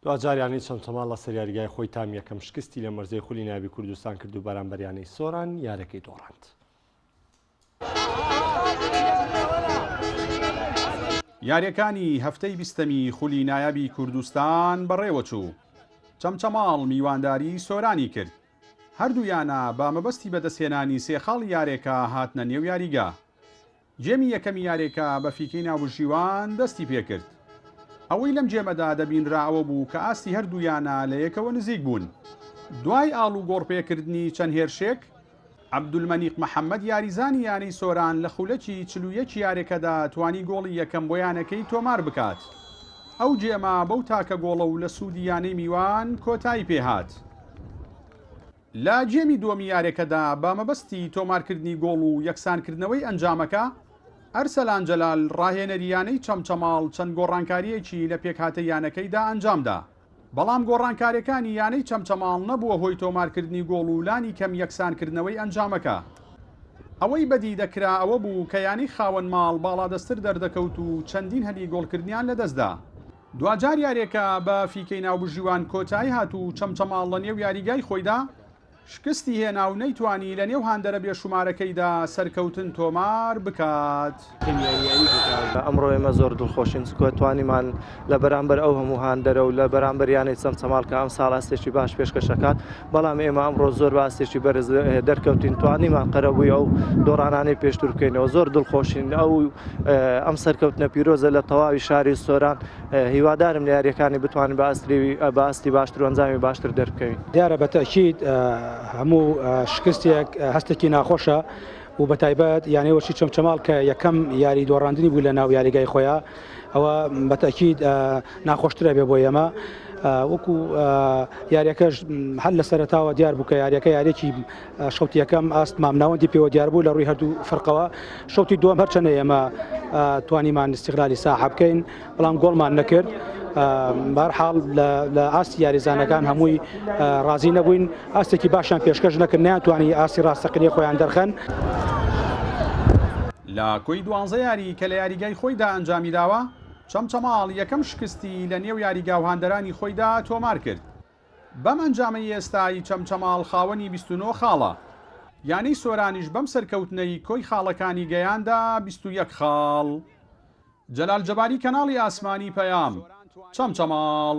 دواجار یانەی چەمچەماڵ لەسەر یاریگای خۆی تام یەکەم شکستی لە مەرزەی خولی نایابی کوردستان کرد و بەرامبەر یانەی سۆران یارەکەی دۆڕاند. یاریەکانی هەفتەی بیستەمی خولی نایابی کوردستان بەڕێوەچوو چەمچەماڵ میوانداری سۆرانی کرد هەردوو یانە بە مەبەستی بەدەستهێنانی سێ خاڵی یارێکە هاتنە نێو یاریگا جێمی یەکەمی یارێکە بە فیکەی ناوبژیوان دەستی پێکرد. ئەوەی لەم جێمەدا دەبینرا ئەوە بوو کە ئاستی هەردوو یانە لە یەکەوە نزیک بوون. دوای ئاڵوگۆڕ پێکردنی چەند هێرشێک، عەبدولمەنیق محەمەد یاریزانی یانەی سۆران لە خولەکی چل و یەک یارێکەدا توانی گۆڵی یەکەم بۆ یانەکەی تۆمار بکات. ئەو جێمە بەو تاکە گۆڵە و لە سوودی یانەی میوان کۆتایی پێهات. لە گێمی دووەمی یارێکەدا بە مەبەستی تۆمارکردنی گۆڵ و یەکسانکردنەوەی ئەنجامەکە، ئەرسەلان جەلال راهێنەری یانەی چەمچەماڵ چەند گۆڕانکارییەکی لە پێکهاتەی یانەکەیدا ئەنجامدا، بەڵام گۆڕانکارییەکانی یانەی چەمچەماڵ نەبووە هۆی تۆمارکردنی گۆڵ و لانی کەم یەکسانکردنەوەی ئەنجامەکە. ئەوەی بەدی دەکرا ئەوەبوو کە یانەی خاوەن ماڵ باڵادەستتر دەردەکەوت و چەندین هەلی گۆڵکردنیان لەدەستدا. دواجار یاریەکە بە فیکەی ناوبژیوان کۆتایی هات و چەمچەماڵ لە نێو یاریگای خۆیدا شکستی هێنا و نەیتوانی لە نێو هاندەرە بێشومارەکەیدا سەرکەوتن تۆمار بکات. ئەمڕۆ ئێمە زۆر دڵخۆشین چونکە توانیمان لە بەرامبەر ئەو هەموو هاندەرە و لە بەرامبەر یانەی چەمچەماڵ کە ئەمساڵ ئەستێکی باش پێشکەش ئەکات، بەڵام ئێمە ئەمڕۆ زۆر بەئاستێکی بەرز دەرکەوتین توانیمان قەرەبووی ئەو دۆڕانانەی پێشتر بکەینەوە زۆر دڵخۆشین ئەو ئەم سەرکەوتنە پیرۆزە لە تەواوی شاری سۆران هیوادارم لە یاریەکانی بتوانین بە ئاستریوی بە ئاستی باشتر و ئەنجامی باشتر دەربکەوین دیارە بەتەکیید هەموو شکستێک هەستێکی ناخۆشە و بە تایبەت یانەوەشی چەمچەماڵ کە یەکەم یاری دۆڕاندنی بوو لە ناو یاریگای خۆیان ئەوە بەتەکیید ناخۆشترە بێ بۆ ئێمە وەکو یاریەکەش هەر لە سەرتاوە دیار بوو کە یاریەکە یارێکی شوتی یەکەم ئاست مامناوەندی پێوە دیار بوو لە ڕووی هەردوو فەرقەوە شوتی دووەم هەرچەنە ئێمە توانیمان استغلالی ساح بکەین بەڵام گۆڵمان نەکرد. بارحاڵ لە ئاستی یاریزانەکان هەمووی ڕازی نەبووین ئاستێکی باشیان پێشکەش نەکردنیان توانی ئاستی ڕاستەقینی خۆیان دەرخەن. لە کۆی دوانزە یاریی کە لە یاریگای خۆیدا ئەنجامیداوە، چەمچەماڵ یەکەم شکستی لە نێو یاریگا و هاندەرانی خۆیدا تۆمارکرد، بەم ئەنجامەی ئێستای چەمچەماڵ خاوەنی بیست و نۆ خاڵە، یانەی سۆرانیش بەم سەرکەوتنەی کۆی خاڵەکانی گەیاندە بیست و یەک خاڵ. جەلال جەباری کەناڵی ئاسمانی پەیام، چەمچەماڵ.